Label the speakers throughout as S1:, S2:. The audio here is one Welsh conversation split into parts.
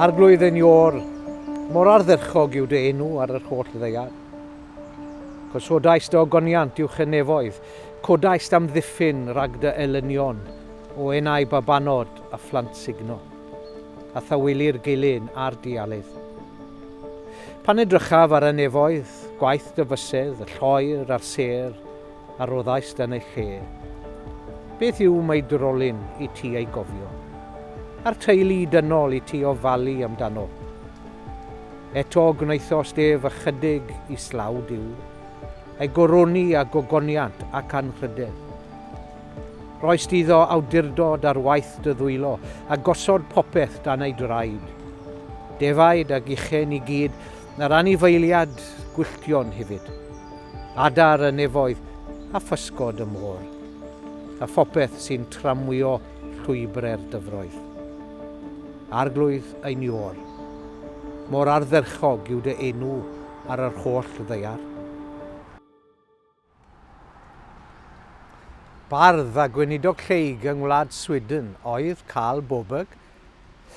S1: Arglwydd yn iol, mor ardderchog yw dy enw ar yr holl ddeiar. Gosodaist dy ogoniant i'w chenefoedd, codaist amddiffyn rhag dy elynion o enau babanod a phlant sugno. a thawylu'r gilyn a'r dialydd. Pan edrychaf ar y nefoedd, gwaith dyfysedd, y lloer a'r sêr a roddaist yn ei lle, beth yw mai drolyn i ti ei gofio, a'r teulu dynol i ti ofalu amdano? Eto gwnaethost ef ychydig islaw Duw, ei goroni â gogoniant ac anrhydedd. Rhoist iddo awdurdod ar waith dy ddwylo, a gosod popeth dan ei draed. Defaid a gichen i gyd, a'r anifeiliad gwylltion hefyd. Adar y nefoedd, a physgod y môr. A phopeth sy'n tramwyo llwybre'r dyfroedd. Arglwydd ein Iôr, mor ardderchog yw dy enw ar yr holl ddaear. Bardd a gweinidog lleyg yng ngwlad Sweden oedd Carl Boberg.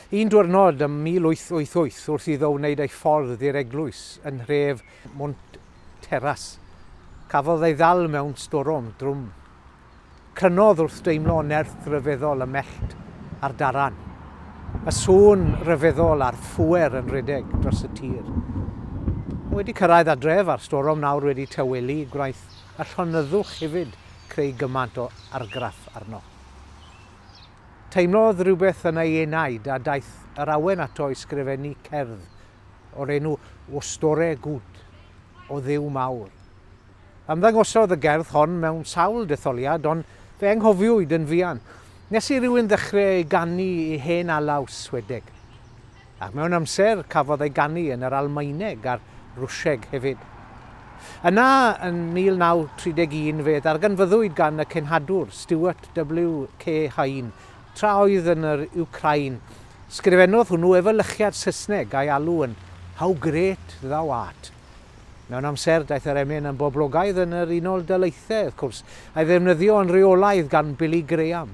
S1: Un diwrnod ym 1888, wrth iddo wneud ei ffordd i'r eglwys yn nhref Mount Terrace, cafodd ei ddal mewn storom drwm. Crynodd wrth deimlo nerth ryfeddol y mellt a'r daran. Y sŵn ryfeddol a'r phŵer yn rhedeg dros y tir. Mae wedi cyrraedd adref a'r storom nawr wedi tawelu gwnaeth y llonyddwch hefyd creu gymaint o argraff arno. Teimlodd rhywbeth yn ei enaid a daeth yr awen ato i sgrifennu cerdd o'r enw O Store Good, O Dduw Mawr. Ymddangosodd y gerdd hon mewn sawl detholiad, ond fe anghofiwyd yn fuan nes i rywun ddechre ei ganu i hen alaw Swedeg. Ac mewn amser cafodd ei ganu yn yr Almaeneg a'r Rwsieg hefyd. Yna, yn 1931, fe ddarganfyddwyd gan y cenhadwr, Stuart W. K. Hine, tra oedd yn yr Wcrain. Sgrifennodd hwnnw efelychiad Saesneg a'i alw yn How Great Thou Art. Mewn amser, daeth yr emyn yn boblogaidd yn yr Unol Daleithiau, wrth cwrs, a'i ddefnyddio yn reolaidd gan Billy Graham.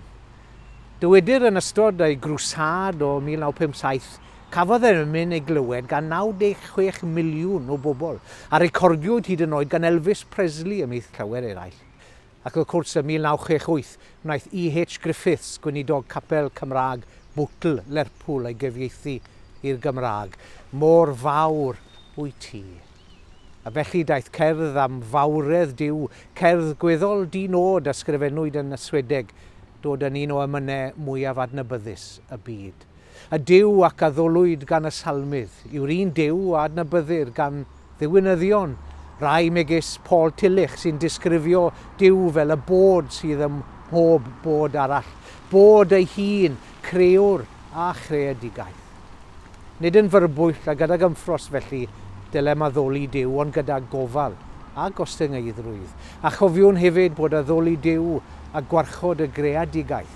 S1: Dywedir yn ystod ei grwsâd o 1957, cafodd yr emyn ei glywed gan 96 miliwn o bobl, a recordiwyd hyd yn oed gan Elvis Presley ymhlith llawer eraill. Ac wrth cwrs, ym 1968, gwnaeth EH. Griffiths, gweinidog capel Cymraeg Bootle, Lerpwl, ei gyfieithu i'r Gymraeg. Mor fawr wyt ti. A felly daeth cerdd am fawredd Duw, cerdd gweddol di-nod a sgrifennwyd yn Swedeg, dod yn un o emynau mwyaf adnabyddus y byd. Y Duw ac a ddolwyd gan y Salmydd yw'r un Duw a adnabyddir gan ddiwinyddion rai megis Paul Tillich sy'n disgrifio Duw fel y Bod sydd ym mhob bod arall, Bod ei hun, Crëwr a Chreadigaeth. Nid yn fyrbwyll a gydag ymffros felly dylem addoli Duw ond gyda gofal a gostyngeiddrwydd. A chofiwn hefyd bod addoli Duw a gwarchod y greadigaeth,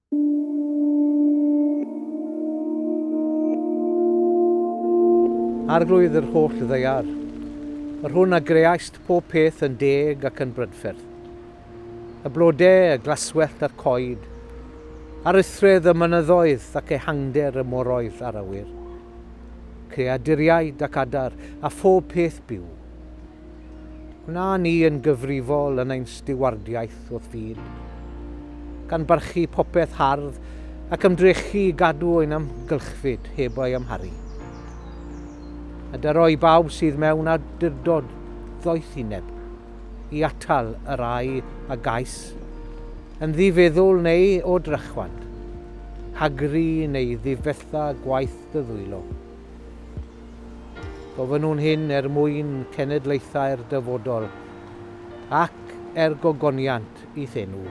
S1: Arglwydd yr holl ddaear, yr hwn a greaist pob peth yn deg ac yn brydferth, y blodau, y glaswellt a'r coed, aruthredd y mynyddoedd ac ehangder y moroedd a'r awyr, creaduriaid ac adar a phob peth byw, Gwna ni yn gyfrifol yn ein stiwardiaeth wrth fyd, gan barchu popeth hardd ac ymdrechu i gadw ein amgylchfyd heb ei amharu. A dyro i bawb sydd mewn awdurdod ddoethineb i atal y rai a gais, yn ddifeddwl neu o drychwant, hagru neu ddifetha gwaith dy ddwylo. Gofynnwn hyn er mwyn cenedlaethau'r dyfodol, ac er gogoniant i'th enw.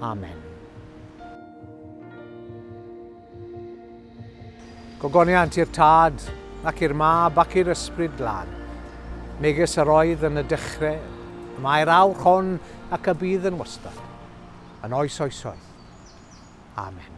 S1: Amen. Gogoniant i'r Tad, ac i'r Mab, ac i'r Ysbryd Glân, megys yr oedd yn y dechreu, y mae'r awr hon, ac y bydd yn wastad, yn oes oesoedd. Amen.